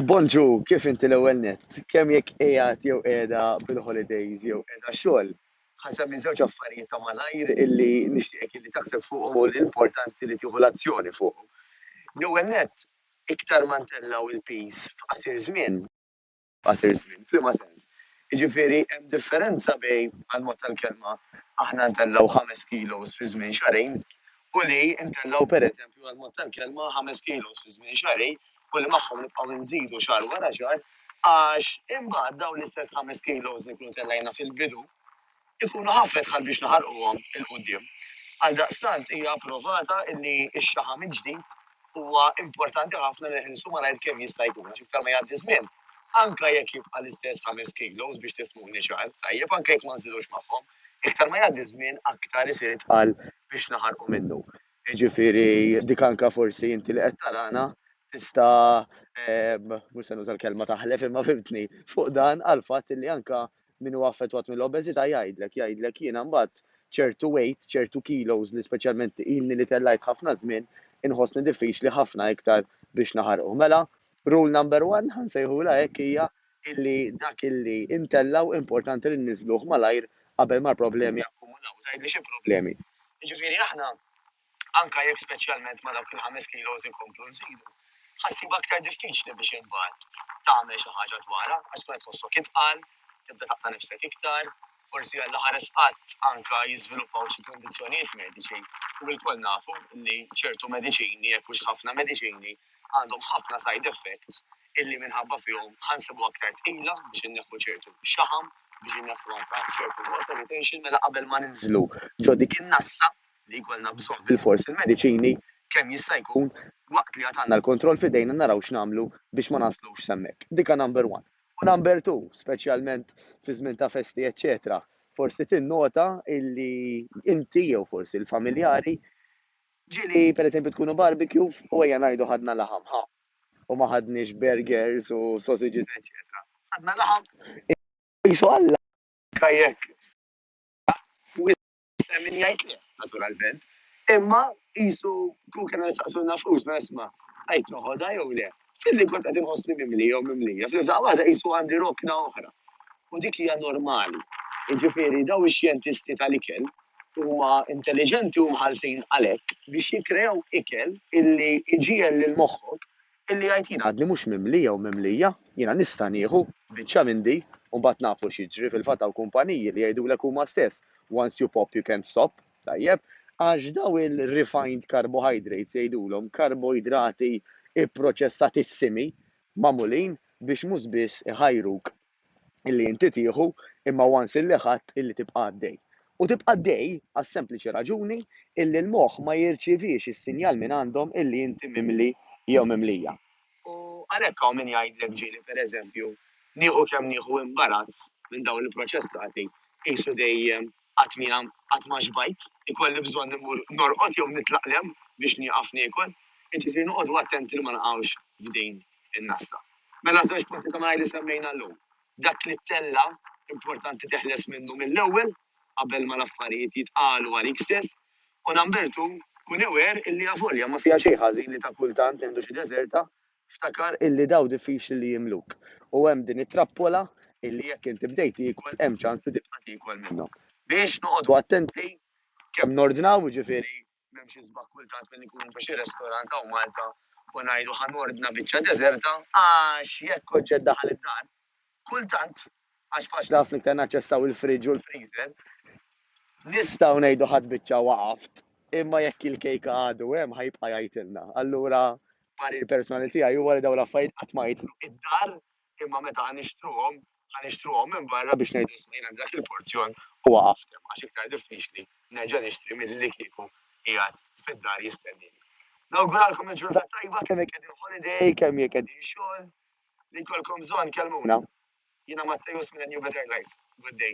Bonġu, kif inti l-ewwel nett? Kemm jekk qiegħed jew qiegħda bil-holidays jew qiegħda xogħol. Ħa nsemmi żewġ affarijiet ta' malajr illi nixtieqek illi taħseb fuqhom u li importanti li tieħu l-azzjoni fuqhom. L-ewwel nett, iktar ma ntellgħu l-piż f'qasir żmien, f'qasir żmien. F'liema sens? Jiġifieri hemm differenza bejn, għall-mod tal-kelma, aħna ntellgħu ħames kilos fi żmien xahrejn u li ntellgħu, pereżempju, għall-mod tal-kelma, ħames kilos fi żmien xahrejn u li magħhom nibqgħu nżidu xahar wara xahar għax imbagħad dawn l-istess ħames kilos li nkunu tellgħajna fil-bidu ikunu ħafna dħal biex naħarquhom 'il quddiem. Għaldaqstant hija approvata li x-xaħam il-ġdid huwa importanti ħafna li nħilsu malajr kemm jista' jkun għax iktar ma jgħaddi żmien, anke jekk jibqa' l-istess ħames kilos biex tifhmuni ċar, tajjeb, anke jekk ma nżidux magħhom, iktar ma jgħaddi żmien aktar isir itqal biex naħarqu minnu. Jiġifieri dik anke forsi inti li qed tarana tista' mhux se nuża l-kelma taħlef imma fimtni fuq dan għall-fatt li anke min huwa affettwat mill-obeżità jgħidlek, jgħidlek jiena mbagħad ċertu weight, ċertu kilos li speċjalment ilni li tellajt ħafna żmien, inħossni diffiċli ħafna iktar biex naħarquh. Mela, rule number one, ħa nsejħulha hekk hija illi dak illi intellgħu importanti li nniżżluh malajr qabel ma l-problemi jakkumulaw. Tgħidli xi problemi? Jiġifieri aħna anke jekk speċjalment ma' dawk il-ħames kilos inkomplu nżidu, ħa ssib aktar diffiċli biex imbagħad tagħmel xi ħaġa dwarha għax tkun qed tħossok itqal, tibda taqta' nifsek iktar, forsi għal ħares qatt anke jiżviluppaw xi kundizzjonijiet mediċi u lkoll nafu li ċertu mediċini jekk hux ħafna mediċini għandhom ħafna side effects illi minħabba fihom ħansibu aktar tqila biex inneħħu ċertu xaħam biex inneħħu anke ċertu water retention mela qabel ma ninżlu ġo dik in-nasla li jkollna bżonn bilfors il-mediċini kemm jista' jkun waqt li għad għandna l-kontroll f'idejna naraw x'nagħmlu biex ma naslux s'hemmhekk. Dika number one. U number two, speċjalment fi żmien ta' festi eċċetera, forsi tinnota illi inti jew forsi l-familjari ġieli pereżempju tkunu barbecue u ejja ngħidu ħadna laħam, ħa, u ma ħadniex burgers u sausages eċċetera. Ħadna laħam, qisu Alla jekk Hemm min jgħid le, naturalment. Imma qisu kieku kellna nistaqsu nafusna isma' tajt noħodha jew le. Filli kont qed inħossni mimli jew mimlija, fl-imżda waħda qisu għandi rokna oħra. U dik hija normali. Jiġifieri daw ix-xjentisti tal-ikel huma intelliġenti u mħallsin għalhekk biex jikkreaw ikel illi jġiegħel lil moħħok Billi jgħid jien għadni mhux mimli jew mimlija, jiena nista' nieħu biċċa minn di u mbagħad nafu x'jiġri, fil-fatt hawn kumpaniji li jgħidulek huma stess once you pop you can't stop, tajjeb, għax dawn il-refined carbohydrates jgħidulhom karboidrati pproċessatissimi magħmulin biex mhux biss iħajruk illi inti tieħu imma once illi ħadt illi tibqa' għaddej. U tibqa' għaddej għas-sempliċi raġuni illi l-moħħ ma jirċievix is-sinjal minn għandhom illi inti mimli jew mimlija. U għalhekk hawn min jgħidlek ġieli pereżempju nieħu kemm nieħu imbarazz minn dawn il-proċessati qisu dejjem Qatt mia qatt ma xbajt. Ikolli bżonn immur norqod jew nitlaqlem biex nieqaf niekol. Jiġifieri noqogħdu attenti li ma naqgħux f'din in-nasta. Mela żewġ punti ta' malajr li semmejna llum. Dak li ttella' importanti teħles minnu mill-ewwel qabel ma l-affarijiet jitqalu għalik stess. U number two, kun aware illi avolja ma fiha xejn ħażin li ta' kultant nieħdu xi deżerta Ftakar illi dawn diffiċli li jimluk u hemm din it-trappola illi jekk inti bdejt tiekol hemm ċans li tibqa' tiekol minnhom. Biex noqogħdu attenti kemm nordnaw, jiġifieri m'hemm xi sbagħ kultant li nkunu ġo xi restorant hawn Malta u ngħidu ħa nordna biċċa deżerta għax jekk oġġett daħal id-dar, kultant, għax faċli ħafna iktar naċċessaw il-fridge u l-freezer, nistgħu ngħidu ħadd biċċa waqaft, imma jekk il-kejka għadu hemm ħa jibqa' jgħidilna. Allura parir personali tiegħi huwa li dawn l-affarijiet qatt ma jidħlu id-dar imma meta ħa nixtruhom ħa nixtruhom minn barra biex ngħidu isma' jien għandi dak il-porzjon u waqaft hemm għax iktar diffiċli nerġa' nixtri milli kieku qiegħed fid-dar jistennieni. Nawguralkom il-ġurnata tajba kemm jekk qegħdin holiday, kemm jekk qegħdin xogħol, li jkollkom bżonn kellmuna. Jiena Mattejus minn New Better Life. Good day.